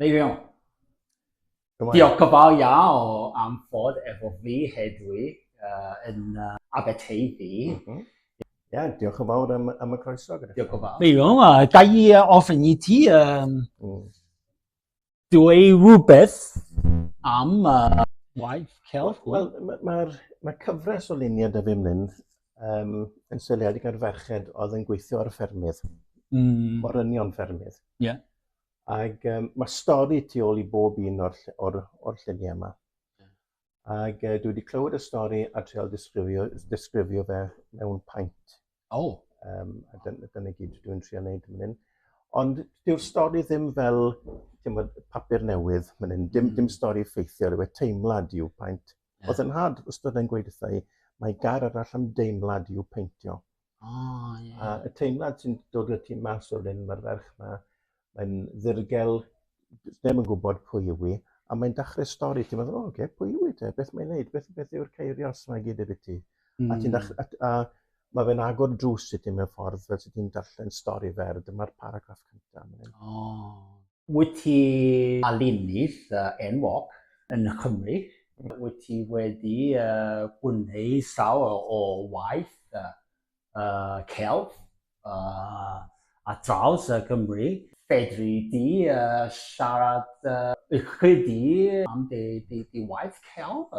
Neu fewn. Diolch gofal iaw am fod efo fi hedwi uh, yn uh, Aberteifi. Mm -hmm. Ia, diolch yn fawr am, am y croeso. Gyda diolch yn fawr. Fe yw'n a, da i ofyn i ti um, mm. dweud rhywbeth am uh, waith celf. Wel, mae'r ma, ma cyfres o luniau da fi ymlaen um, yn seiliedig ar ferched oedd yn gweithio ar y ffermydd. Mm. Morynion ffermydd. Ie. Yeah. Ac um, mae stori tu ôl i bob un o'r, or, or lluniau yma. Ac uh, dwi wedi clywed y stori a treol disgrifio, disgrifio fe mewn paint. O! Oh. Um, a dyna, dyna gyd dwi'n trio wneud yn hyn. Ond dyw'r stori ddim fel bod, papur newydd fan hyn. Dim, mm. dim hmm. stori ffeithiol yw e, teimlad yw paint. Yeah. Oedd yn had, ystod yn gweud wrtha i, mae gar arall am deimlad i'w peintio. O, oh, ie. Yeah. A y teimlad sy'n dod y tu mas o'r un mae'r ferch yma, mae'n ddirgel, ddim yn gwybod pwy yw i, a mae'n dachrau stori, ti'n meddwl, o, oh, okay, pwy yw i te, beth mae'n neud, beth, beth yw'r ceirios yma gyd efo ti. Mm. A, hmm. a, a mae fe'n agor drws i ti mewn ffordd fel sydd ti'n darllen stori fer, dyma'r paragraff cyntaf. O. Oh. Wyt ti fel ennill enwog yn Nghymru? Wyt ti wedi gwneud llawer o waith celf ar draws Cymru? Fedri di siarad ychydig am dy waith celf?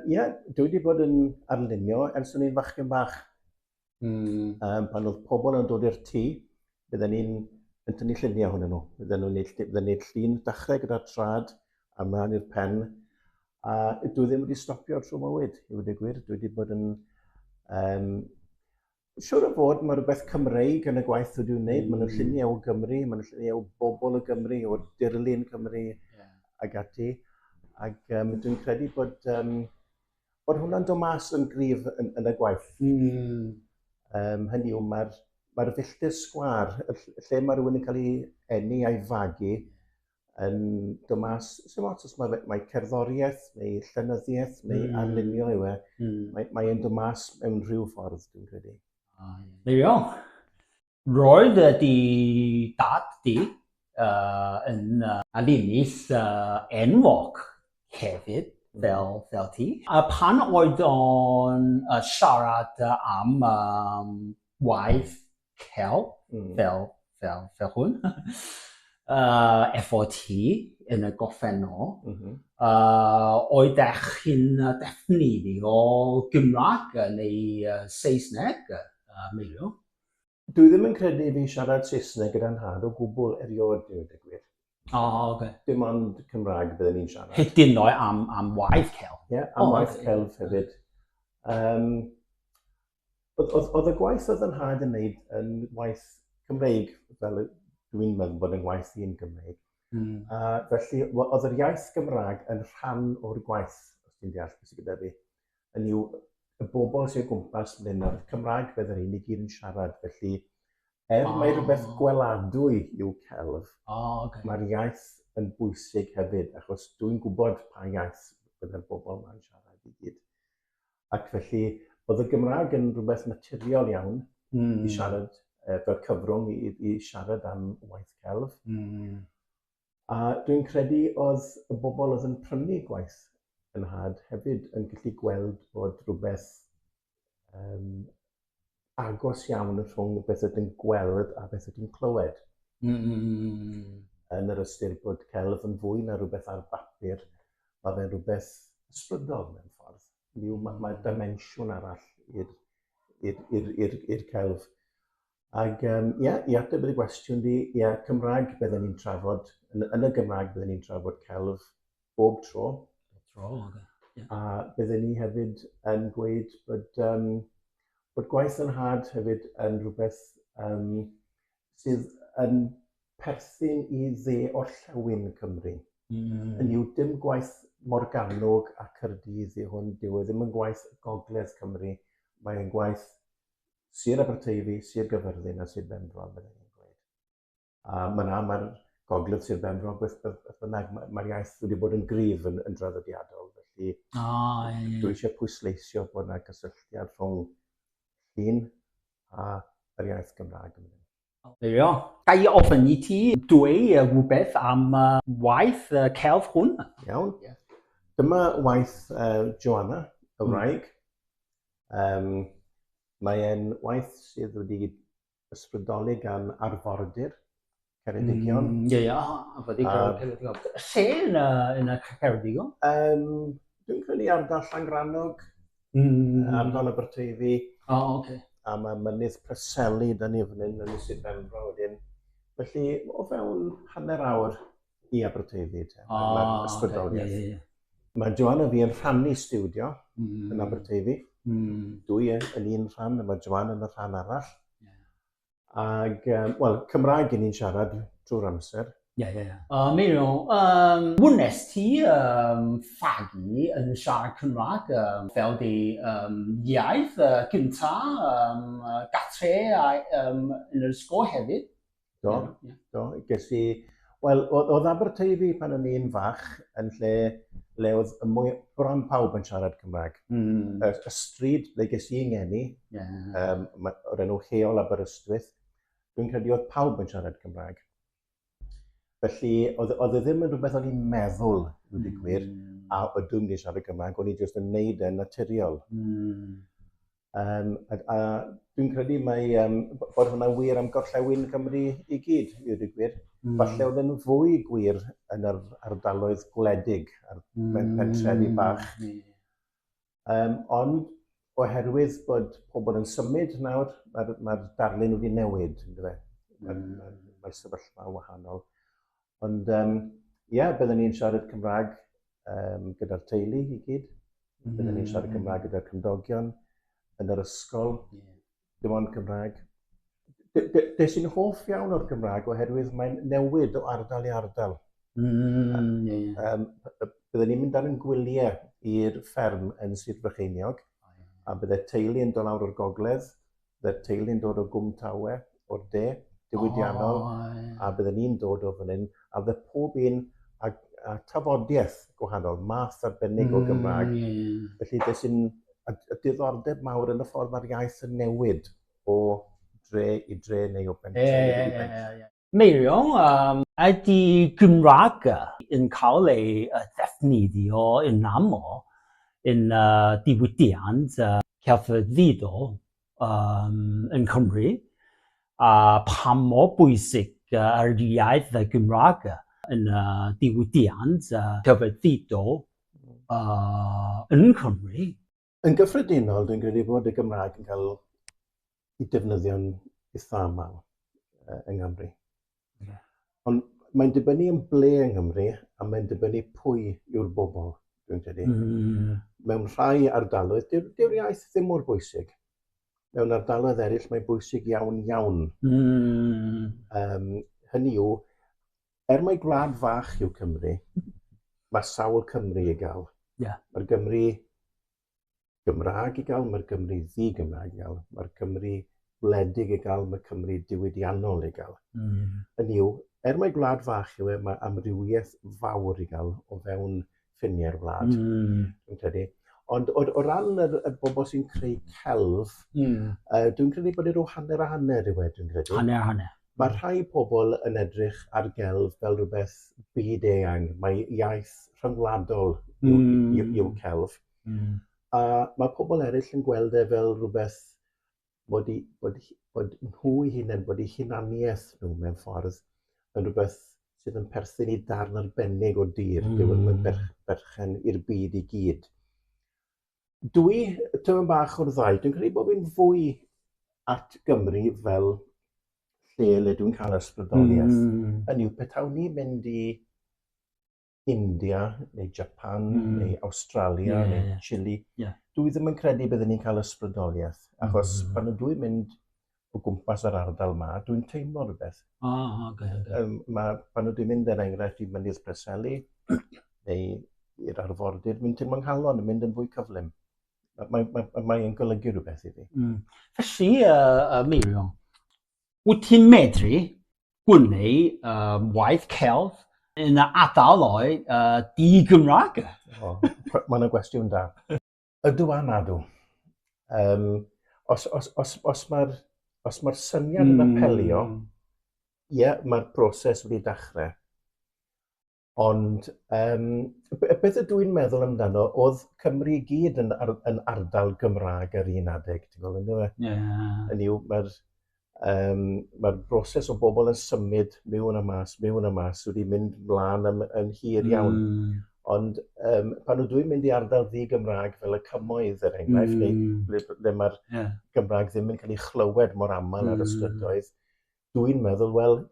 Ie, dwi wedi bod yn arlunio ers o'n i'n fachgen bach. Mm. Um, pan oedd pobl yn dod i'r tŷ, bydden ni'n yn tynnu lluniau hwnnw nhw. Bydden nhw'n neud, bydden neud llun dachrau gyda'r trad a mlaen i'r pen. A dwi ddim wedi stopio trwy mywyd, i wedi gwir. Dwi wedi bod yn... Um, siwr o fod, mae rhywbeth Cymreig yn y gwaith dwi wedi'i wneud. Mm. Mae'n lluniau o Gymru, mae'n lluniau o bobl o Gymru, o dirlun Cymru yeah. ag ati. Ac um, dwi'n credu bod... Um, Bod hwnna'n dod mas yn gryf yn yn y gwaith. Hmm. Yym hynny yw ma'r ma'r filltir sgwâr y ll- y lle ma' rywun yn ca'l 'i eni a'i fagu yn dod mas sim ots os ma' fe mae cerddorieth neu llenyddieth neu... Hmm. ...arlunio yw e. Hmm. Mae mae e'n dod mas mewn rhyw ffordd dwi'n credu. O ie. There we are. Roedd dy dad di yn alinis enwog hefyd, fel ti. A phan oedd o'n siarad am waith celf fel hwn efo ti yn y gorffennol, oeddech chi'n defnyddio Gymraeg neu Saesneg, meddw? Dwi ddim yn credu i fi siarad Saesneg gyda nhad o gwbl erioed, dweud y gwir. O, oh, oce. Okay. Dim ond Cymraeg bydden ni'n siarad. Hyd yn oed am, am waith celf. Ie, yeah, am oh, waith okay. celf hefyd. Um, oedd y gwaith oedd yn had yn neud yn waith Cymreig, fel dwi'n meddwl bod yn waith i'n Gymreig. Mm. A felly, oedd yr iaith Gymraeg yn rhan o'r gwaith, os ti'n deall beth sy'n gyda fi. hynny yw y bobl sy'n gwmpas ble na Cymraeg bydd yr hyn i gyd yn siarad, felly er oh. mae rhywbeth gweladwy yw celf, oh, okay. mae'r iaith yn bwysig hefyd, achos dwi'n gwybod pa iaith byddai'r bobl yma'n siarad i gyd. Ac felly, oedd y Gymraeg yn rhywbeth naturiol iawn mm. i siarad, e, fel cyfrwng i, i siarad am waith celf. Mm. A dwi'n credu oedd y bobl oedd yn prynu gwaith y nhad hefyd yn gallu gweld bod rhywbeth um, agos iawn y rhwng beth ydyn gweld a beth ydyn clywed. Mm, mm, mm, mm. Yn yr ystyr bod celf yn fwy na rhywbeth ar bapur, mae fe'n rhywbeth ysbrydol mewn ffordd. Mae ma, ma dimensiwn arall i'r celf. Ac um, ia, i ateb y gwestiwn di, ia, Cymraeg byddwn ni'n trafod, yn, yn y Gymraeg byddwn ni'n trafod celf bob tro. Bob tro, oce. Okay. Yeah. A byddwn ni hefyd yn gweud bod, um, bod gwaith yn had hefyd yn rhywbeth um, sydd yn perthyn i dde orllewin Cymru. Mm. Yn yw dim gwaith Morganog a Cyrdydd i hwn, dyw e ddim yn gwaith Gogledd Cymru, mae'n gwaith Sir Aberteifi, Sir Gyfyrddin a Sir Benfro, meddai hi'n gweud. A mae yna, mae'r gogledd Sir Benfro, beth, beth, beth bynnag, mae'r mae iaith wedi bod yn gryf yn, yn draddodiadol, felly o, e. dwi eisiau pwysleisio bod yna gysylltiad rhwng llun a yr iaith Gymraeg yn mynd. There you are. Ga i ofyn i ti dweud rhywbeth am waith celf hwn? Iawn. Dyma waith Joanna, y wraig. Mae e'n waith sydd wedi ysbrydoli gan arfordir Ceredigion. Ie, ie, arfordir Ceredigion. Lle yn Ceredigion? Dwi'n credu ardal Llangrannog. Mm. Ardal Aberteifi. O, oh, oce. Okay. A mae mynydd Preseli da ni fan hyn yn Sir Benfro wedyn. Felly, o fewn hanner awr i Aberteifi. Te, oh, oce. Okay. Yeah, yeah, yeah. Mae Joan a fi yn rhannu studio mm. yn Aberteifi. Mm. Dwi yn un rhan, a mae Joan yn y rhan arall. Yeah. Ac, um, wel, Cymraeg yn ni'n siarad drwy'r amser. Ie, ie, ie. Uh, mi nhw, um, wnes ti um, fagu yn siarad Cymraeg um, fel di um, iaith uh, gynta, um, uh, gatre a, um, yn yr ysgol hefyd? Do, yeah. do. Ges i Wel, oedd Aberteifi pan o'n i'n fach yn lle le oedd y mwy... bron pawb yn siarad Cymraeg. Mm. Y, y stryd le ges i ngeni, yeah. um, o'r enw Heol Aberystwyth, dwi'n credu oedd pawb yn siarad Cymraeg. Felly, oedd, oedd e ddim yn rhywbeth o'n i'n meddwl, dwi'n mm. gwir, a ydw i'n mynd i siarad Cymraeg, o'n i jyst yn neud e'n naturiol. Mm. Yym a a dwi'n credu mai yym b- bod hwnna'n wir am gorllewin Cymru i gyd i ddweud y gwir. Hmm. Falle oedd e'n fwy gwir yn yr ardaloedd gwledig a'r hmm. pe- pentrefi bach. Hmm. Yym ond oherwydd bod pobl yn symud nawr, mae'r mae darlun wedi newid, ynddo fe? Mae'r hmm. mae, mae sefyllfa wahanol. Ond ie, um, yeah, byddwn ni'n siarad Cymraeg um, gyda'r teulu i gyd. Mm. Byddwn ni'n siarad mm. Cymraeg gyda'r cymdogion yn yr ysgol. Yeah. Dim ond Cymraeg. Des i'n hoff iawn o'r Gymraeg oherwydd mae'n newid o ardal i ardal. Mm, yeah. um, byddwn ni'n mynd ar yn gwyliau i'r fferm yn Sir Brycheiniog, oh, yeah. a byddai teulu yn dod lawr o'r gogledd Bydd teulu'n dod o Gwm Tawe, o'r de, diwydiannol, a bydden ni'n dod o fan hyn, a fydde pob un a, a tafodiaeth gwahanol, math arbennig o Gymraeg. Mm. Felly, beth sy'n y, y diddordeb mawr yn y ffordd mae'r iaith yn newid o dre i dre neu o bentre yeah, yeah, i bentre. Yeah, yeah, yeah. Meirio, ydy Gymraeg yn cael ei ddefnyddio yn aml yn diwydiant celfyddydol yng Nghymru, a pha mor bwysig yr iaith Gymraeg yn diwydiant celfyddydol yng Nghymru? Yn gyffredinol, dwi'n credu bod y Gymraeg yn cael ei defnyddio'n eitha aml yng Nghymru. Hmm. Ond mae'n dibynnu yn ble yng Nghymru a mae'n dibynnu pwy yw'r bobl, dwi'n credu. Mm. Mewn rhai ardaloedd, dyw'r dyw iaith ddim mor bwysig. Mewn ardaloedd eraill mae'n bwysig iawn iawn. Mm. Um, hynny yw, er mai gwlad fach yw Cymru, mae sawl Cymru i gael. Yeah. Mae'r Gymru Gymraeg i gael, mae'r Gymru ddi-Gymraeg i gael, mae'r Cymru wledig i gael, mae Cymru diwydiannol i gael. Mm. Yn yw, er mae gwlad fach yw e, mae amrywiaeth fawr i gael o fewn ffiniau'r wlad. Mm. Dwi'n credu. Ond o, o ran y, y bobl sy'n creu celf, mm. uh, dwi'n credu bod e rhyw hanner a hanner i wedi, dwi'n credu. Hanner a hanner. Mae rhai pobl yn edrych ar gelf fel rhywbeth byd eang. Mae iaith rhyngwladol yw, mm. yw, yw celf. Mm. A mae pobl eraill yn gweld e fel rhywbeth bod, i, bod, bod nhw'i hunain, bod eu hunaniaeth nhw mewn ffordd yn rhywbeth sydd yn perthyn i darn arbennig o dir. Mm. Dyw yn berch, berchen i'r byd i gyd. Dwi, tyma bach o'r ddau, dwi'n credu bod fi'n fwy at Gymru fel lle le dwi'n cael ysbrydoliaeth. Mm. Yn yw, petawn ni'n mynd i India neu Japan mm. neu Australia yeah, neu yeah. Chile, yeah. dwi ddim yn credu byddwn ni'n cael ysbrydoliaeth. Mm-hmm. Achos mm. pan ydw i'n mynd o gwmpas yr ardal ma, dwi'n teimlo rhywbeth. O, oh, okay, okay. Um, ma, pan ydw i'n mynd er enghraifft i Mynydd Preseli neu i'r arfordir, dwi'n teimlo'n nghalon yn mynd yn fwy cyflym. Mae'n mae, mae, mae golygu rhywbeth i fi. Mm. Felly, uh, uh, Miriam, wyt ti'n medru gwneud um, waith celf yn y adalau uh, di-Gymraeg? oh, Mae yna gwestiwn da. Ydw a nadw. Um, os os, os, os mae'r os mae'r syniad yn hmm. apelio, ie, yeah, mae'r broses wedi dechrau. Ond yym b- beth ydw i'n meddwl amdano, oedd Cymru i gyd yn, ar, yn ardal Gymraeg yr un adeg, ti'n gwybod, ynddo fe? Yeah. Yn yw, mae'r um, ma broses o bobl yn symud mewn a mas, mewn a mas, wedi mynd mlaen yn, yn hir iawn. Mm. Ond um, pan ydw i'n mynd i ardal ddi Gymraeg fel y cymoedd, er enghraifft, mm. neu ble, ble mae'r yeah. Gymraeg ddim yn cael ei chlywed mor aml mm. ar y strydoedd, dwi'n meddwl, wel,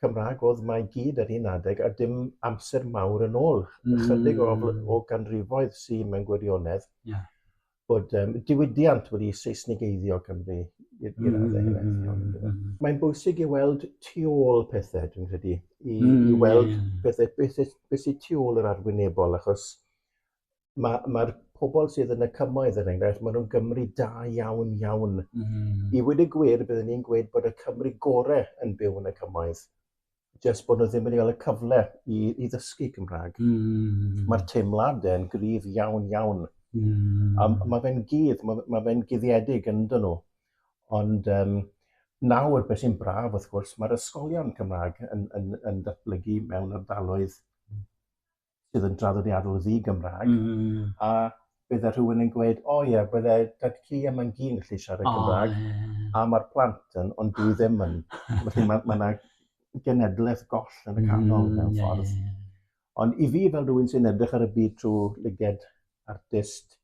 Cymraeg oedd mae i gyd ar un adeg a dim amser mawr yn ôl, mm. ychydig o, o ganrifoedd sy'n mewn gwirionedd. Yeah. Bod um, diwydiant wedi Seisnigeiddio Cymru i'r mm, raddau mm, hefyd. Mm, mm, mm. Mae'n bwysig i weld tu ôl pethau, dwi'n credu, i, mm, i weld yeah. pethau beth, beth sy'n tu ôl yr arwynebol, achos Mae, mae'r pobl sydd yn y cymoedd, er enghraifft, maen nhw'n Gymru da iawn, iawn. Mm -hmm. I wedi gwir, byddwn ni'n gweud bod y Cymru gorau yn byw yn y cymoedd. Just bod nhw ddim wedi cael y cyfle i, i ddysgu Cymraeg. Mm -hmm. Mae'r teimladau yn gryf iawn, iawn. Mm -hmm. A mae fe'n gudd, mae, mae fe'n guddiedig yn dyn nhw. Ond um, nawr, beth sy'n braf, wrth gwrs, mae'r ysgolion Cymraeg yn, yn, yn datblygu mewn ardaloedd sydd yn draddodiadol ddi-Gymraeg, mm. a bydde rhywun yn gweud, o oh, ie, yeah, bydde dad cu a mae'n gyn gallu siarad oh, Cymraeg, yeah. a mae'r plant yn, ond dwi ddim yn. Felly mae yna ma genedlaeth goll yn y canol mm, mewn ffordd. Yeah, yeah. Ond i fi fel rhywun sy'n edrych ar y byd trwy lyged artist,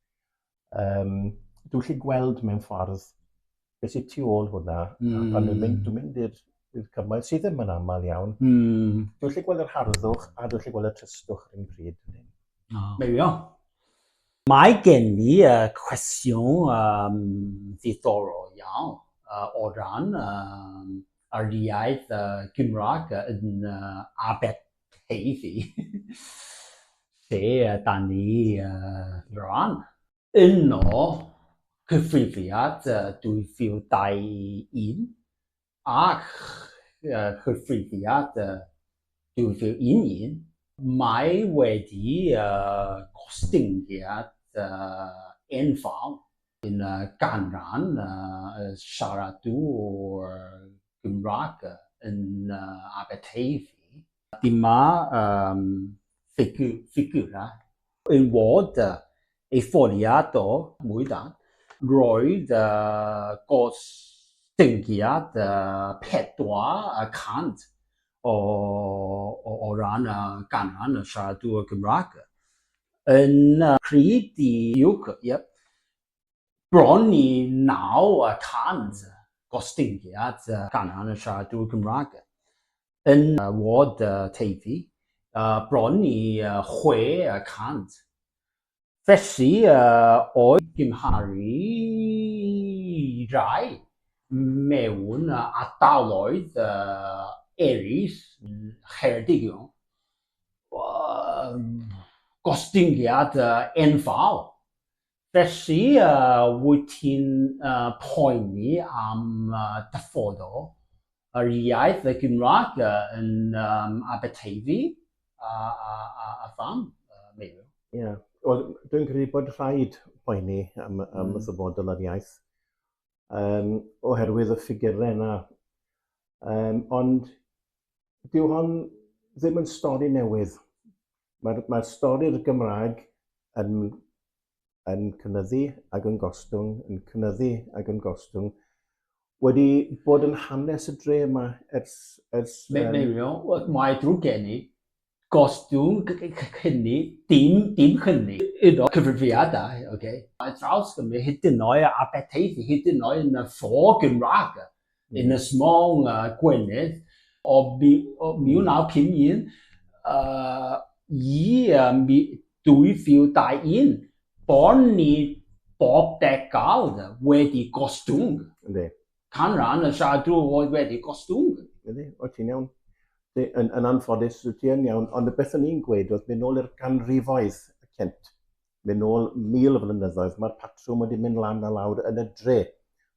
um, dwi'n lle gweld mewn ffordd beth sy'n tu ôl hwnna, mm. a pan dwi'n mynd, hmm. dwi'n mynd i'r i'r cymoedd sydd ddim yn aml iawn. Mm. Dwi'n lle gweld yr harddwch a dwi'n lle gweld y trystwch yn un pryd. Oh. There we are. Mae gen i uh, cwestiwn um, ddiddorol iawn uh, o ran um, yr iaith uh, Gymraeg yn uh, Abed Hei fi! Lle ydan ni rwan? Yno, cyfrifiad 2021 a chyfrifiad 2011, mae wedi gostyngiad enfawr yn y ganran siaradwr Gymraeg yn Aberteifi. Dyma um, ffigur, ffigurau yn wod uh, ei ffoliad o mwy da. Roedd uh, gostyngiad uh, 400 o, o, o ran y uh, ganran y siaradwr Gymraeg yn uh, pryd i UK, yep, Bron i 900 gostyngiad canran yn siaradwyr Cymraeg yn ward Teifi, bron i 600. Felly, o'i gymharu i rai mewn ardaloedd eraill yng Ngheredigion, gostyngiad enfawr. Felly, wyt ti'n poeni am dyfodol yr iaith, y Gymraeg, yn Aberteifi, a pham, Meirion? Ie, wel, dwi'n credu bod rhaid poeni am ddyfodol yr iaith. um, oherwydd y ffigurau yna. Um, ond dyw hon ddim yn stori newydd. Mae'r mae, stori'r Gymraeg yn, yn cynyddu ac yn gostwng, yn cynyddu ac yn gostwng, wedi bod yn hanes y dre yma ers... ers um... Meilio, mae drwy gen i, gostwng hynny, dim, dim hynny, iddo cyfrifiadau, oce, okay. ar draws Gymru, hyd yn oed a Aberteifi, hyd yn oed yn y ffo Gymraeg, mm. yn y smong uh, Gwynedd, o, mi, o 1951 uh, i um, 2021, bod ni bob degawd wedi gostwng. Ynddi. canran y siadw oedd wedi gostwng. Ydy, wyt ti'n iawn. Ydy, yn, yn anffodus, wyt ti yn iawn, ond y beth o'n i'n gweud oedd mynd nôl i'r ganrifoedd y cynt, mynd nôl mil o flynyddoedd, mae'r patrwm wedi mynd lan a lawr yn y dre,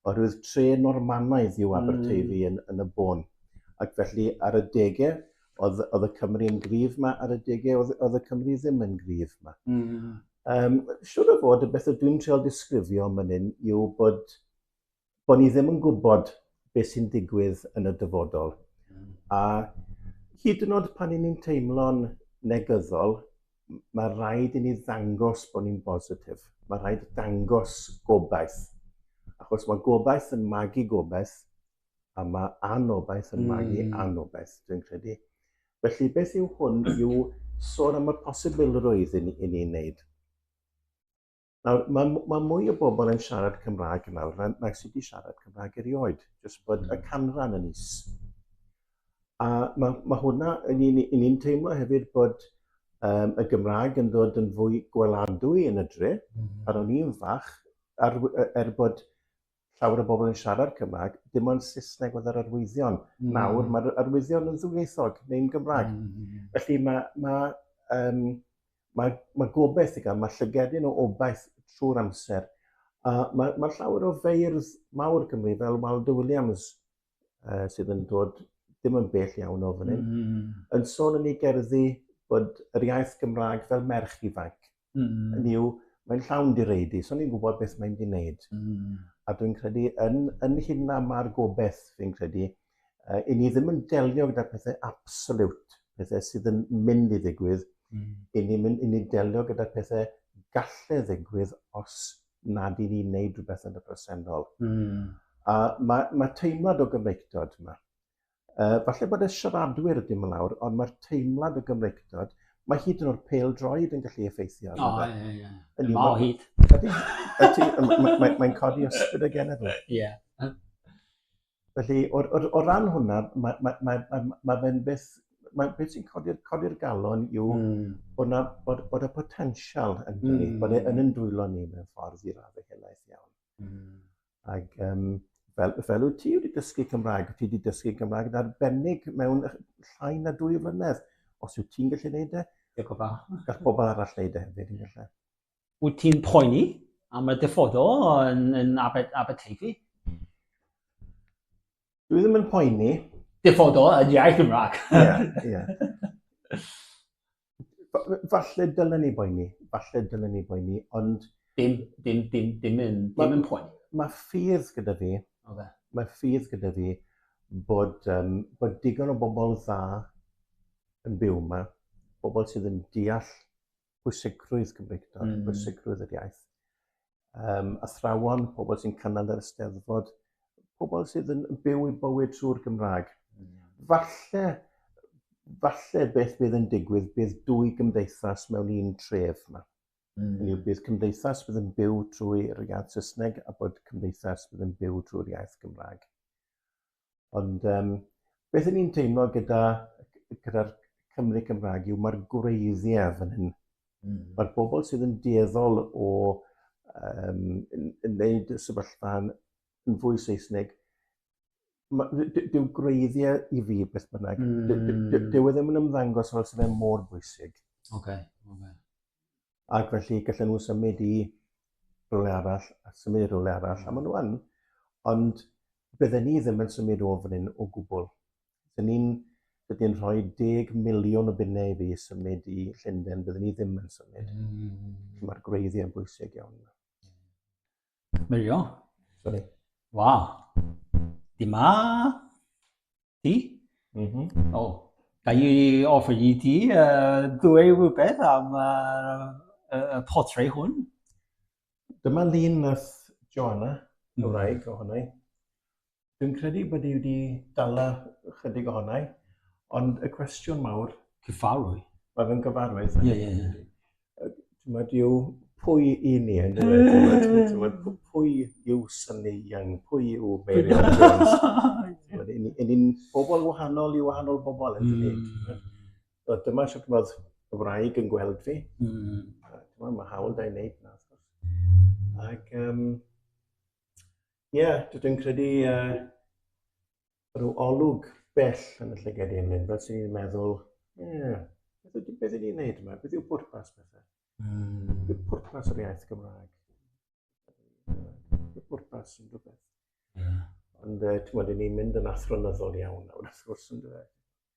oherwydd tre Normanaidd yw Aberteifi mm. yn, yn y bôn. Ac felly, ar y degau, oedd, oedd y Cymru yn gryf yma, ar y degau oedd, oedd y Cymru ddim yn gryf yma. Mm. Um, siwr o fod, y beth ydw i'n treol disgrifio yn mynd yw bod bod ni ddim yn gwybod beth sy'n digwydd yn y dyfodol. Hmm. A hyd yn oed pan ni'n teimlo'n negyddol, mae rhaid i ni ddangos bod ni'n bositif. Mae rhaid dangos gobaith. Achos mae gobaith yn magu gobaith, a mae anobaith yn magu mm. anobaith, dwi'n credu. Felly, beth yw hwn yw sôn am y posibilrwydd i ni'n ni wneud. Nawr, mae, mae mwy o bobl yn siarad Cymraeg yn awr na, na sydd wedi siarad Cymraeg erioed, jyst bod y hmm. canran yn is. A mae, mae hwnna, yn ni'n ni teimlo hefyd bod um, y Gymraeg yn dod yn fwy gweladwy yn y dre. Mm. Pan o'n i'n fach, ar, er bod llawer o bobl yn siarad Cymraeg, dim ond Saesneg oedd yr arwyddion. Mm. Nawr mae'r arwyddion yn ddwyieithog neu'n Gymraeg. Mm. mm, mm. Felly mae, mae, um, mae, mae gobeith i gael, mae llygedyn o obaith trwy'r amser. A mae, mae llawer o feirdd mawr Cymru fel Waldo Williams uh, sydd yn dod dim yn bell iawn o fan hyn, mm. yn sôn yn ei gerddi bod yr iaith Gymraeg fel merch ifanc. mm. hynny yw, mae'n llawn direidi, so ni'n gwybod beth mae'n di wneud. Mm. A dwi'n credu, yn, yn hyn na mae'r gobeith, fi'n credu, uh, i ni ddim yn delio gyda pethau absolut, pethau sydd yn mynd i ddigwydd, mm. i ni, mynd, i ni delio gyda pethau gallu ddigwydd os nad i ni wneud rhywbeth yn y presennol. Mm. A mae, mae teimlad o gyfeictod yma. Yy, falle bod y siaradwyr wedi mynd lawr, ond mae'r teimlad o Gymreictod, mae hyd yn o'r pêl droed yn gallu effeithio. O, ie, ie, ie. Yn ma o hyd. Ydy, ydy, mae'n mae, codi ysbryd y genedl. Ie. Felly, o, o, o ran hwnna, mae, mae, mae, mae, mae fe'n beth, mae beth sy'n codi'r codi galon yw mm. bod, na, bod, bod y potensial yn dweud, mm. bod e'n yn dwylo ni mewn ffordd i radde helaeth iawn. Mm. Ac um, fel, fel wyt ti wedi dysgu Cymraeg, wyt ti wedi dysgu Cymraeg yn arbennig mewn llai na dwy flynedd. Os wyt ti'n gallu gwneud e, Diolch o bach. Gall pobl arall wneud e hefyd yn gallu. Wyt ti'n poeni am y dyfodol yn, yn Aberteifi? Dwi ddim yn poeni. Dyfodol yn iaith Gymraeg. Ie, ie. falle dylen ni boeni, falle dylen ni boeni, ond... Dim, dim, dim, dim yn, dim yn poeni. Mae ffydd gyda fi, okay. mae ffydd gyda fi bod, um, bod digon o bobl dda yn byw yma, bobl sydd yn deall pwysigrwydd Cymreictod, mm. pwysigrwydd yr iaith. um, athrawon, pobl sy'n cynnal yr ysteddfod, pobl sydd yn byw i bywyd trwy'r Gymraeg. Mm. Falle, falle beth bydd yn digwydd bydd dwy gymdeithas mewn un tref yma. Mm. Hynny yw, bydd cymdeithas bydd yn byw trwy'r iaith Saesneg a bod cymdeithas bydd yn byw trwy'r iaith Gymraeg. Ond um, beth yn ni'n teimlo gyda, gyda'r Cymru Cymraeg yw mae'r gwreiddiau fan hyn. Mm. Mae'r bobl sydd yn dueddol o um, yn, yn neud y sefyllfa yn, yn fwy Saesneg, dyw gwreiddiau i fi beth bynnag, mm. dyw e ddim yn ymddangos fel sydd e'n mor bwysig. Oce, okay, oce. Okay. ac felly gallen nhw symud i rhywle arall, a symud i rhywle arall, mm. a maen nhw yn, ond bydden ni ddim yn symud o fan hyn o gwbl. Dyn ni'n dyn ni rhoi deg miliwn o bunnau i fi symud i Llundain, bydden ni ddim yn symud. Mm. Mae'r gwreiddiau yn bwysig iawn. Merio. Sorry. Wa. Di ma. Di. Mm -hmm. O. Da i offer i di uh, dwy rhywbeth am y uh, uh, portrait hwn. Dyma lun nath Joanna, mm. Cymraeg, mm. ohona i. Dwi'n credu bod i wedi dala chydig ohonau, ond y cwestiwn mawr... Cyfarwy. Mae fe'n gyfarwydd. Ie, ie, ie. Mae diw pwy i ni yn dweud, pwy yw Sonny Young, pwy yw Mary Jones. Yn ni'n bobl wahanol i wahanol bobl yn dweud. Mm. So, dyma sut mae'r wraig yn gweld fi. Mm. Mae hawl da i wneud na. Ac um, Ie, yeah, dwi'n credu uh, rhyw olwg bell yn y llygad i'n mynd, fel sy'n ni'n meddwl, ie, yeah, beth ydy, beth ydy wneud yma? Beth yw pwrpas bethau? Mm. Beth yw pwrpas yr iaith Gymraeg? Beth yw pwrpas yn rhywbeth? Yeah. Ond, uh, ti'n modd, ni'n mynd yn athronyddol iawn nawr, wrth gwrs, yn dweud.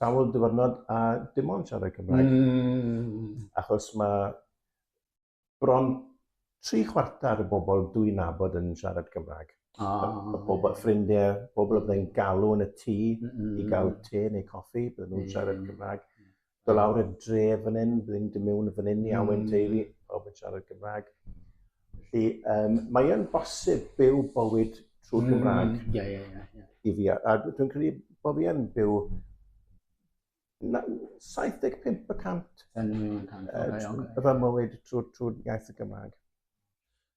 sawl dyfynod a dim ond siarad Cymraeg. Mm. Achos mae bron tri chwarter y bobl dwi'n nabod yn siarad Cymraeg. Ah, y bobl, ffrindiau, bobl oedd yn galw yn y tŷ mm -hmm. i gael te neu coffi, bydden nhw'n siarad Cymraeg. Do lawr y dre fan hyn, bydden nhw'n mynd mewn fan hyn i awen teulu, pawb yn siarad Cymraeg. Felly, um, mae yn bosib byw bywyd trwy mm, Gymraeg. Mm, yeah, yeah, yeah, yeah. I fi, a dwi'n credu bod fi yn byw 75% yn fy mywyd trwy, trwy iaith y Gymraeg.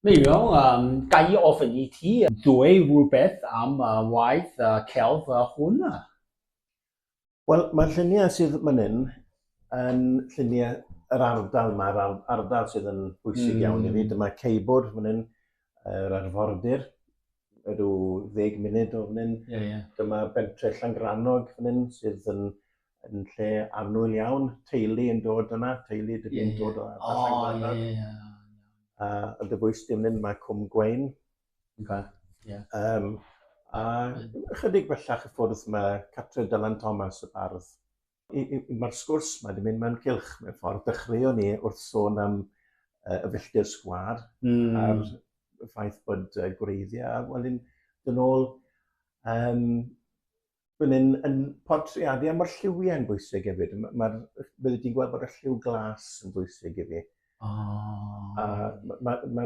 Miriam, um, ga i ofyn i ti ddwy rhywbeth am uh, waith uh, celf uh, hwn? Wel, mae'r lluniau sydd man hyn yn lluniau yr ardal yma, yr ardal sydd yn bwysig mm. iawn i fi. Dyma Ceibwr fan hyn, yr arfordir, rhyw ddeg munud o fan hyn. Yeah, yeah. Dyma bentre Llangrannog fan hyn, sydd yn, yn lle annwyl iawn. Teulu yn dod yna, teulu dydyn yeah, yeah. dod o oh, Llangrannog. Yeah, yeah. A yn dy bwys dim hyn, mae Cwm Gwein. Okay. Yeah. Um, a chydig bellach y ffwrdd mae Catrin Dylan Thomas y bardd. Mae'r sgwrs mae wedi mynd mewn cilch mewn ffordd. Dechreuon ni wrth sôn am uh, y filltir sgwar mm. a'r ffaith bod uh, gwreiddiau, wel yn dyn ôl um, Dwi'n yn, yn portreadu, a mae'r lliwiau'n bwysig hefyd. Mae'r, bydde ti'n gweld bod y lliw glas yn bwysig i fi. Oh. A mae'r ma, ma,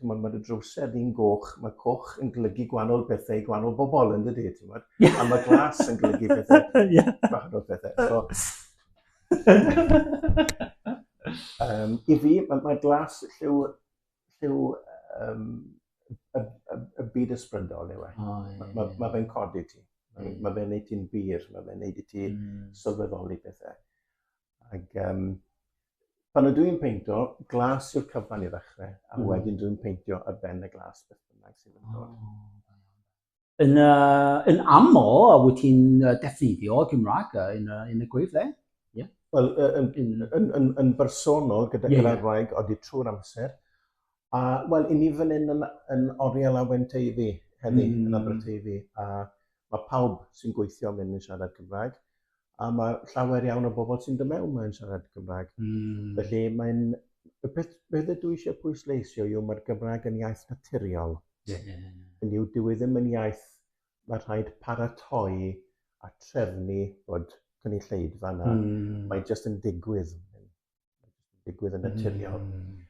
ma, ma dy drwser di'n goch, mae coch yn glygu gwahanol bethau i gwahanol bobl yn dydy, ti'n bod? Yeah. A mae glas yn glygu pethau, yeah. gwahanol pethau. So, um, I fi, mae ma glas lliw lliw um, y, y, y byd ysbrydol yw e. Oh, yeah, mae ma, yeah. ma fe'n codi ti. Mae yeah. ma fe'n neud ti'n bir, mae fe'n neud i ti mm. sylweddoli pethau. Ac um, pan ydw i'n peintio, glas yw'r cyfan i ddechrau, a mm. wedyn dwi'n peintio y ben y glas beth bynnag sydd yn dod. Oh. Yn, uh, yn aml, a wyt ti'n uh, defnyddio Gymraeg uh, yn, uh, yn y gwyf dde? Yeah. Wel, uh, yn, yn, yn, yn, yn bersonol gyda yeah, yeah. Gymraeg oeddi trwy'r amser. A, wel, i ni fan hyn yn, yn Oriel a Wenteifi, heddi, mm. yn Aberteifi. A mae pawb sy'n gweithio mynd yn siarad Cymraeg. a mae llawer iawn o bobl sy'n dod mewn mae'n siarad Cymraeg. Mm. Felly mae'n y peth beth ydw i eisiau pwysleisio yw mae'r Gymraeg yn iaith naturiol. Yeah. Yn yw dyw e ddim yn iaith mae rhaid paratoi a trefnu bod cynulleidfa yna. Mm. Mae jyst yn digwydd. digwydd yn naturiol. Mm.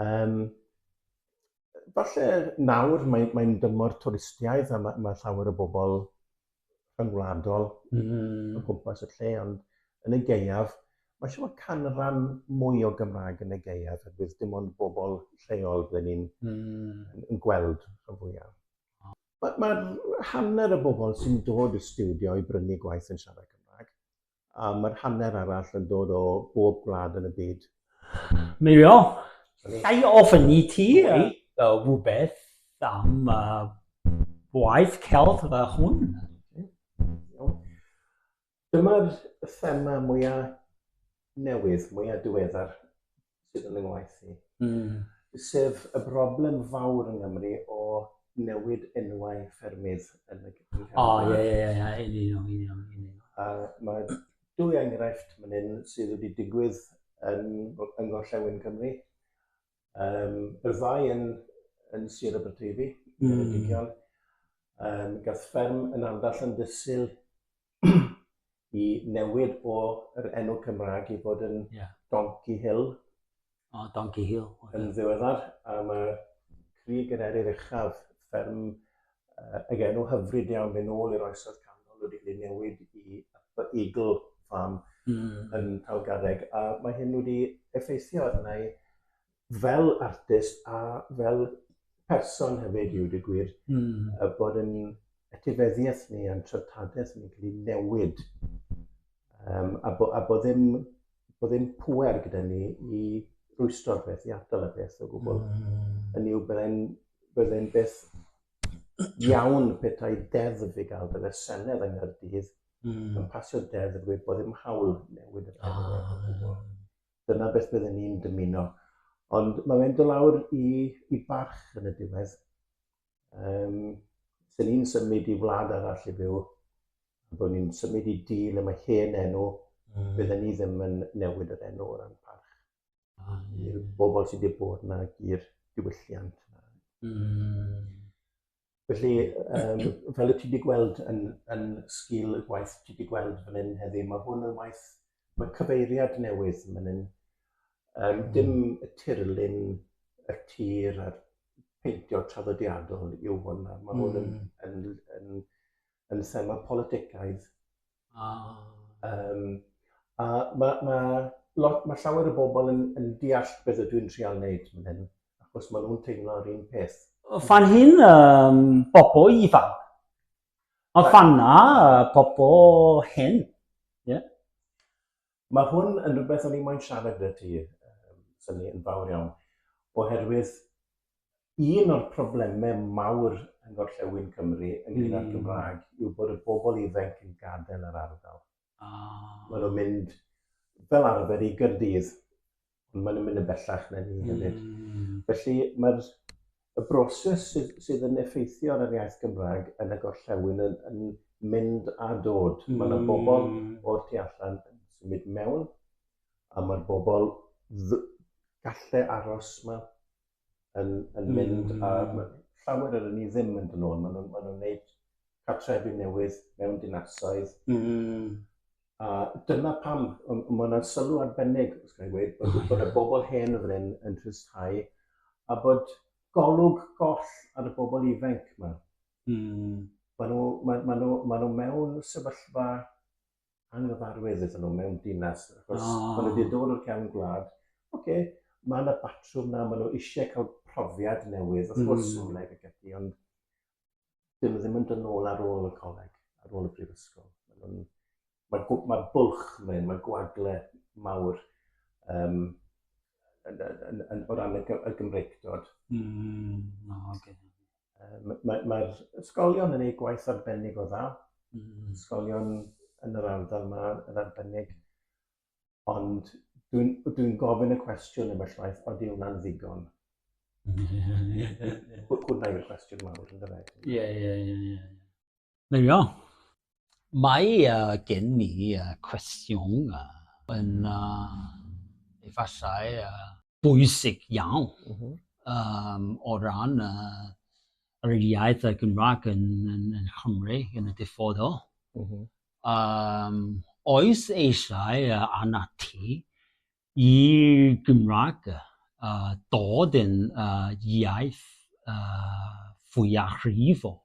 Um, falle nawr mae'n mae dymor twristiaeth a mae, mae llawer o bobl rhyngwladol mm. o gwmpas y lle, ond yn y geiaf, mae eisiau bod canran mwy o Gymraeg yn y geiaf, a bydd dim ond bobl lleol byddwn ni'n mm. yn gweld rhan fwyaf. Mae, mae hanner y bobl sy'n dod i studio i brynu gwaith yn siarad Cymraeg. a mae'r hanner arall yn dod o bob gwlad yn y byd. Mirio, llai o ofyn i ti rhywbeth am uh, waith celf y hwn. Dyma'r thema mwyaf newydd, mwyaf diweddar sydd yn fy ngwaith i. Mm. Sef y broblem fawr yng Nghymru o newid enwau ffermydd yn y Cymru. O, ie, ie, ie, ie, yn union, yn union, yn union. A mae dwy enghraifft mynd hyn sydd wedi digwydd yn, yn gorllewin Cymru. Um, yr ddau yn, yn Sir Aberteifi, mm. yn y hmm. digion. Um, gath fferm yn andall yn dysil i newid o yr enw Cymrag i fod yn yeah. Donkey Hill. O, oh, Donkey Hill. Okay. Yn ddiweddar, a mae Cri Gynerir Uchaf, fferm uh, ag enw hyfryd iawn mynd ôl i'r oesoedd canol wedi cael ei newid i Upper Eagle Farm mm. yn Talgarreg. A mae hyn wedi effeithio arna i fel artist a fel person hefyd yw dy gwir, mm. a bod yn etifeddiaeth ni a'n treftadaeth ni'n cael ei newid. Um, a, bo, a bod ddim, bo ddim pwer gyda ni i rwystro'r peth, i atal y peth o gwbl. Mm. Yn yw byddai'n bydde beth iawn petai deddf i gael bydde Senedd yng Nghyrdydd mm. yn pasio deddf i bod ddim hawl newid y peth. Ah. dyna beth bydden ni'n dymuno. Ond mae fe'n dod lawr i, i barch yn y diwedd. Um, Dyn ni'n symud i wlad arall i fyw, a bod ni'n symud i di le mae hen enw, mm. bydden ni ddim yn newid yr enw o ran parch. Ah, yeah. I'r bobl sydd wedi bod yna i'r diwylliant. Mm. Felly, um, fel y ti wedi gweld yn, yn sgil y gwaith ti wedi gweld fan hyn heddi, mae hwn yn waith, mae cyfeiriad newydd fan hyn. Um, dim hmm. y tirlun y tir a'r peintio traddodiadol yw hwn. Mae hwn yn, hmm. yn, yn, yn, yn thema politicaidd Ah. Um, a mae, mae, lot, mae llawer o bobl yn, yn deall beth ydw i'n trial wneud fan hyn, achos maen nhw'n teimlo yr un peth. Fan hyn, um, bobl ifanc. A fan na, pobl hen. Yeah. Mae hwn yn rhywbeth o'n i moyn siarad gyda ti, um, syni yn fawr iawn, oherwydd un o'r problemau mawr yn gorllewin Cymru yn gyda'r mm. Gymraeg yw bod y bobl ifanc yn gadael yr ardal. Oh. Mae nhw'n mynd fel arfer i Gyrdydd ond maen nhw'n mynd yn bellach na ni hefyd. Mm. Felly mae'r y broses sydd, sydd yn effeithio ar yr iaith Gymraeg yn y gorllewin yn, yn mynd a dod. Mm. Mae yna bobl hmm. o'r tu allan yn symud mewn, a mae'r bobl galle aros yma yn, yn hmm. mynd a hmm. llawer o'r ni ddim yn dod nôl. Maen nhw'n ma nhw wneud cartrefi newydd mewn dinasoedd. Mm. A dyna pam, mae yna sylw arbennig, os gael gweud, bod, oh, bod y bobl hen yn fan yn tristau, a bod golwg goll ar y bobl ifanc yma. Mm. Maen nhw, ma, ma nhw, ma nhw mewn sefyllfa anghyfarwydd iddyn nhw mewn dinas, achos oh. maen nhw wedi dod o'r cefn gwlad. Oce, okay, mae yna batrwm na, maen nhw eisiau cael profiad newydd, wrth gwrs, mm. coleg ac ati, ond dyn nhw ddim yn dyn ôl ar ôl y coleg, ar ôl y prifysgol. Mae'n ma, ma bwlch mae'n, mae gwagle mawr um, yn, yn, yn, o ran y, y Gymreigdod. Mm, no, okay. Mae'r mae, ysgolion yn ei gwaith arbennig o dda. Mm. Ysgolion yn yr ardal yma yn arbennig. Ond dwi'n dwi gofyn y cwestiwn yma llaeth, oeddi hwnna'n ddigon? Hwna yw'r cwestiwn mawr, yn dweud. Ie, ie, ie. There we are. Mae gen i cwestiwn yn efallai bwysig iawn o ran yr iaith Gymraeg yn Nghymru yn y dyfodol. Oes eisiau arnat ti Y Gymraeg, a dod yn iaith fwyafrifol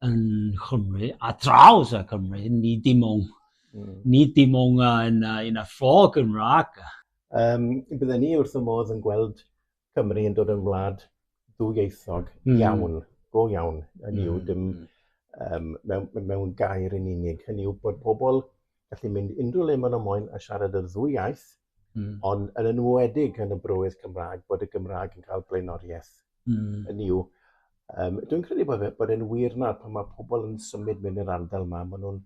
yn Nghymru, ar draws y Cymru, nid dim ond, nid dim ond yn y ffo Gymraeg. Bydden ni wrth fy modd yn gweld Cymru yn dod yn wlad ddwyieithog mm. iawn, go iawn, hynny yw, mm, dim mm. um, mewn, mewn gair yn unig. Hynny yw bod pobl gallu mynd unrhyw le maen nhw moyn a siarad yr ddwy iaith, mm. ond yn enwedig yn y brywydd Cymraeg, bod y Gymraeg yn cael blaenoriaeth. Mm. Hynny yw, um, dwi'n credu bod, e, bod e'n wir nawr pan mae pobl yn symud mynd i'r ardal yma, maen nhw'n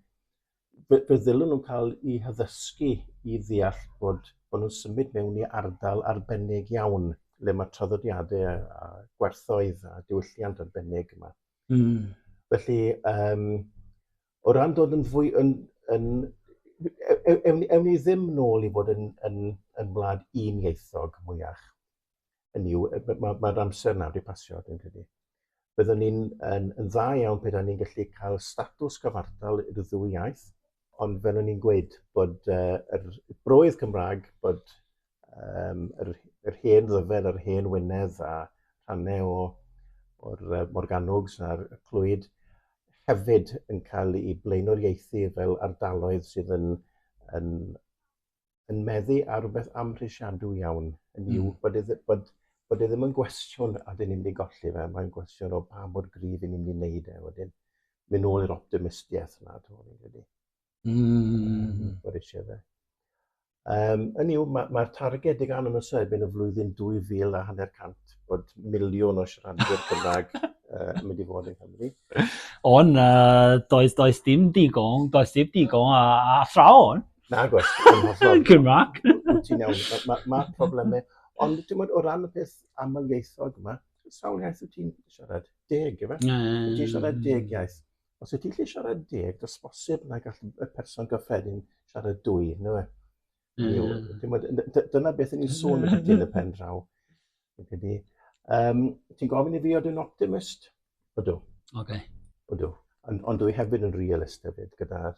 fe, fe ddylwn nhw'n cael eu haddysgu i ddeall bod, bod nhw'n symud mewn i ardal arbennig iawn le mae traddodiadau a, a gwerthoedd a diwylliant arbennig yma. Mm. Felly, um, o ran dod yn fwy yn, yn e, e, ewn, ewn ni ddim nôl i fod yn, yn, yn wlad un ieithog mwyach. yn yw, mae'r ma amser nawr wedi pasio, dwi'n credu. Byddwn ni'n yn, yn dda iawn pe ni'n gallu cael statws cyfartal i'r ddwy iaith, ond fel o'n i'n gweud bod uh, yr broedd Cymraeg, bod um, yr, yr hen ddyfed a'r hen wynedd a rhannau o, o'r uh, Morganwgs a'r Clwyd hefyd yn cael ei blaenoriaethu fel ardaloedd sydd yn, yn yn meddu ar rhywbeth amhrisiadw iawn, yn yw mm. bod, e, bod, bod e ddim yn gwestiwn a dyn ni'n mynd i golli fe, mae'n gwestiwn o pa mor gryf i ni'n mynd i wneud e wedyn. Mynd nôl i'r optimistiaeth yna, dwi'n meddwl, wedi. Mm. Bod eisiau fe. Um, yn yw, mae'r ma targed i gan yn y sefyd yn y flwyddyn 2000 a hanner cant bod miliwn o siaradwyr Cymraeg uh, mynd i fod yn Cymru. Ond uh, does, does dim digon, does dim digon a, a ffrawn. Nagos. Good mark. Ti'n iawn. Mae ma, ma problemau. Ond ti'n bod o ran y peth amlieithog yma, sawl iaith wyt ti'n siarad? Deg, efe? Wyt ti'n siarad deg iaith? Os wyt ti'n lle siarad deg, dos bosib na gall y person gyffredin siarad dwy, no e? Dyna beth yn ni'n sôn yn y pen draw. Um, ti'n gofyn i fi oedd yn optimist? Ydw. Okay. Ydw. Ond, ond dwi hefyd yn realist hefyd gyda'r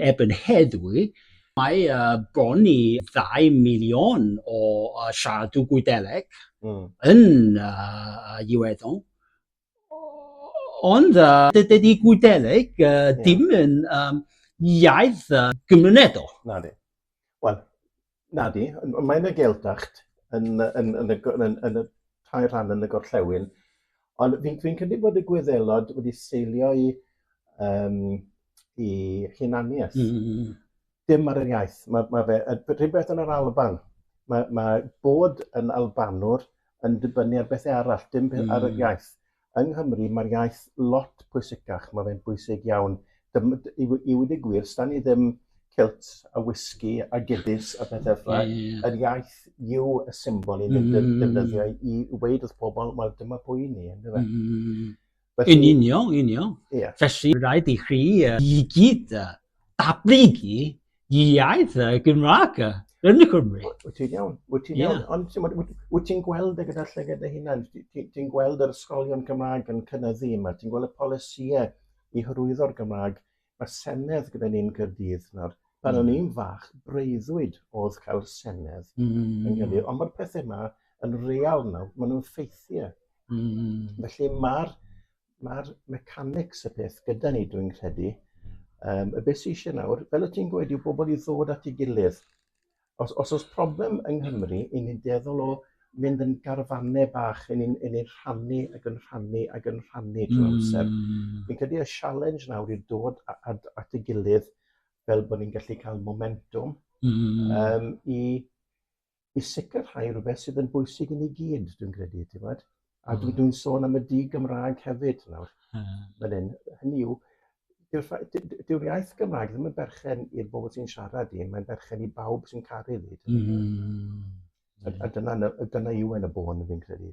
Erbyn heddiw, mae bron i ddau miliwn o siaradw Gwyddeleg yn Iwerddon, ond dydy Gwyddeleg ddim yn iaith gymunedol. Nadi. Wel, Nadi, mae'n y Geldacht yn, yn, yn, y, yn, yn, yn y tair rhan yn y gorllewin, ond fi'n fi credu bod y gwyddelod wedi seilio i, um, i hunaniaeth. Mm, mm, mm. Dim ar yr iaith. Mae, mae fe, rhywbeth yn yr Alban, mae, mae bod yn Albanwr yn dibynnu ar bethau arall, dim mm. ar yr iaith. Yng Nghymru mae'r iaith lot pwysicach, mae fe'n bwysig iawn. Dym- d- I we- i wedi gwir, sdan ni ddim kilt a whisky a giddies a pethau ffla. Ie, ie. Yr iaith yw y symbol i ni'n def- defnyddio i i weud wrth pobl, wel dyma pwy i ni, yndyfe? Mm. Felly- Yn union, union. Ie. Felly, rhaid i chi yy i gyd yy datblygu iaith y Gymraeg yn y Cymru. Wyt ti'n iawn, wyt ti'n iawn. Ond wyt ti'n gweld e gyda llygad dy hunan? Ti'n gweld yr ysgolion Cymraeg yn cynnyddu yma? Ti'n gweld y polisïau i hyrwyddo'r Gymraeg? Mae Senedd gyda ni'n Cyrdydd nawr. Pan o'n i'n fach, breuddwyd oedd cael Senedd mm. yn Cyrdydd. Ond mae'r pethau yma yn real nawr, maen nhw'n ffeithiau. Mm. Felly mae'r Mae'r mechanics y peth gyda ni, dwi'n credu. Um, y beth sy'n eisiau nawr, fel y ti'n gweud, yw bobl i ddod at ei gilydd. Os, os oes problem yng Nghymru, i ni'n deddol o mynd yn garfannau bach, i ni'n ni rhannu ac yn rhannu ac yn rhannu trwy mm. amser. Fi'n credu y challenge nawr yw dod at, at ei gilydd fel bod ni'n gallu cael momentum mm. um, i i sicrhau rhywbeth sydd yn bwysig i ni gyd, dwi'n credu, ti'n gwybod? A dwi, hmm. dwi'n sôn am y di Gymraeg hefyd nawr, hmm. fan hyn. Hynny yw, dyw'r iaith Gymraeg ddim yn berchen i'r bobl sy'n siarad i, mae'n berchen i bawb sy'n caru fi. Mm. A, a dyna, dyna yw yn y bôn fi'n credu.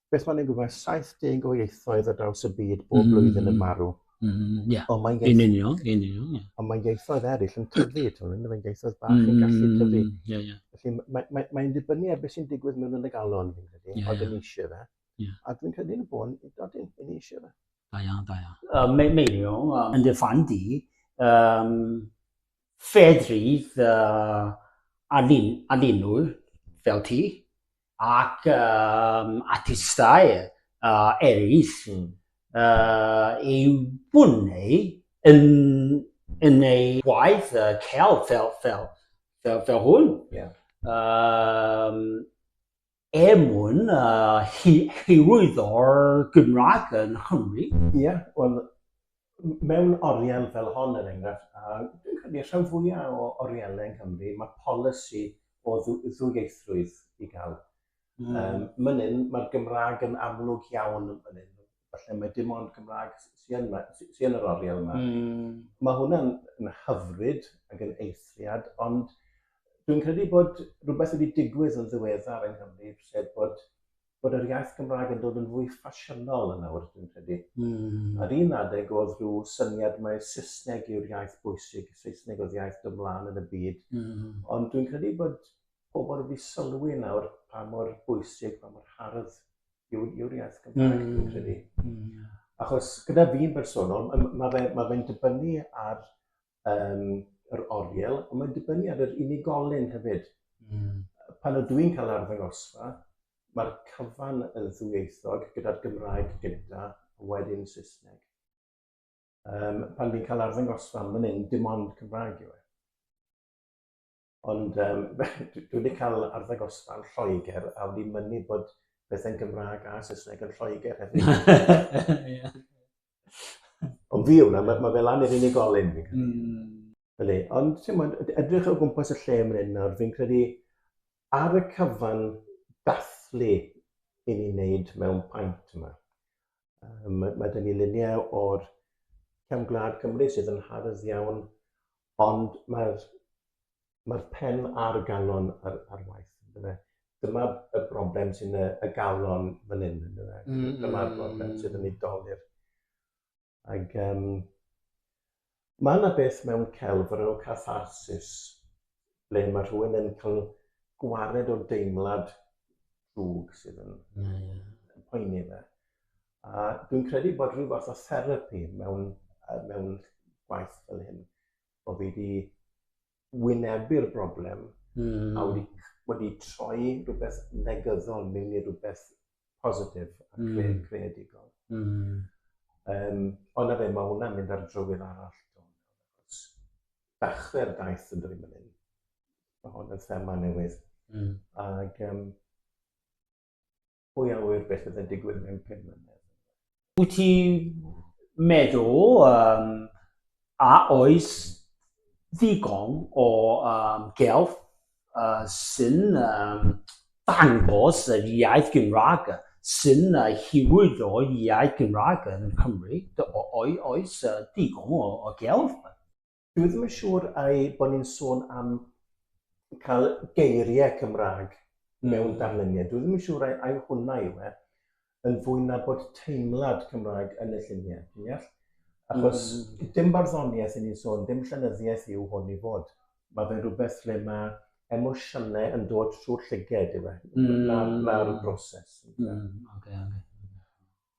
beth mae'n ei gwybod, 70 o ieithoedd ar draws y byd bob mm. blwyddyn yn marw. Mm, yeah. Ond mae'n ieithoedd... Yn union, yn union, yeah. Ond mae'n ieithoedd eraill yn tyfu, ti'n mynd, mae'n ieithoedd bach mm, yn gallu mm, tyfu. Yeah, yeah. Felly mae'n mae, mae, mae dibynnu ar beth sy'n digwydd mewn yn y galon, fi'n credu, yeah, oedd yn eisiau fe. Yeah. A dwi'n credu yn y bôn, dod yn, yn eisiau fe. Da iawn, da iawn. Uh, Meilio, uh, yn dy fan di, um, Fedrith anninnwyr fel ti ac artistau eraill eu bunau yn eu gwaith celf fel hwn. Er mwyn hyrwyddo'r Gymraeg yng Nghymru. Ie, wel, mewn oriel fel hon, er enghraifft, a dwi'n credu y rhan fwya' o orielau yng Nghymru, ma' polisi o ddwyieithrwydd i ga'l. Yym, man 'yn, ma'r Gymraeg yn amlwg iawn man 'yn. falle mae dim ond Cymraeg sy yn, sy yn yr oriel yma. Mm. Mae hwnna'n yn hyfryd ac yn eithriad, ond dwi'n credu bod rhywbeth wedi digwydd yn ddiweddar yng Nghymru, sef bod, bod yr iaith Gymraeg yn dod yn fwy ffasiynol yn awr, dwi'n credu. Mm. Ar un adeg oedd rhyw syniad mae Saesneg yw'r iaith bwysig, Saesneg oedd iaith dymlaen yn y byd, mm. ond dwi'n credu bod pobl wedi sylwi nawr pa mor bwysig, pa mor hardd yw, yw'r iaith Gymraeg, mm. dwi'n credu. Mm. Achos gyda fi'n bersonol, mae fe'n ma fe dibynnu ar um, yr oriel, ond mae'n dibynnu ar yr unigolyn hefyd. Mm. Pan ydw i'n cael arddangosfa, mae'r cyfan yn ddwyieithog gyda'r Gymraeg gyda, wedyn Saesneg. Um, pan fi'n cael arddangosfa, mae'n un dim ond Cymraeg yw e. Ond yym dwi dwi 'di ca'l arddangosfa yn Lloeger a wedi mynnu bod pethe'n Gymrâg a Sysneg yn Lloeger hefyd. Ie. Ond fi yw wnna ma' ma' fe lan i'r unigolyn fi'n credu. Hmm. Ydi ond t'mod ed- edrych o gwmpas y lle myn 'yn nawr fi'n credu ar y cyfan dathlu i ni neud mewn paent yma yym ma' ma' 'dyn ni lunie o'r cefn gwlad Cymru sydd yn hardd iawn Ond mae'r mae'r pen a'r galon ar, ar waith, yndyfe? Dyma y broblem sy'n y, y galon fan hyn, yndyfe? Mm, mm, Dyma'r mm, broblem mm. sydd yn ei dolir. Ac um, mae yna beth mewn celf o'r enw catharsis, ble mae rhywun yn cael gwared o deimlad drwg sydd yn, yeah, yeah. yn poeni fe. A dwi'n credu bod rhyw fath o therapi mewn, mewn gwaith fel hyn, bod fi wedi wynebu'r broblem mm. a wedi, wedi troi rhywbeth negyddol mewn i rhywbeth positif a hmm. cre mm. creadigol. Mm. Um, ond na fe, mae hwnna'n mynd ar drywydd arall. Dachwedd daith yn dweud mynd hyn. Mae hwn yn thema newydd. Mm. Ac, um, Pwy a ŵyr beth bydd yn digwydd mewn pum mlynedd? Wyt ti'n meddwl um, a oes ddigon o um, gelf uh, sy'n um, dangos yr iaith Gymraeg sy'n uh, hiwyd o iaith Gymraeg yn Cymru? O, oes uh, digon o, o gelf? Dwi ddim yn siŵr ai bod ni'n sôn am cael geiriau Cymraeg mewn darluniau. Dwi ddim yn siŵr ai, ai hwnna yw e, yn fwy na bod teimlad Cymraeg yn y lluniau, ti'n deall? Achos mm. dim barddoniaeth yn ni'n sôn, dim llenyddiaeth yw hwn i fod. Mae fe'n rhywbeth le mae emosiynau yn dod trwy'r llyged yw e, mm. na'r, na broses. Mm. Okay, okay.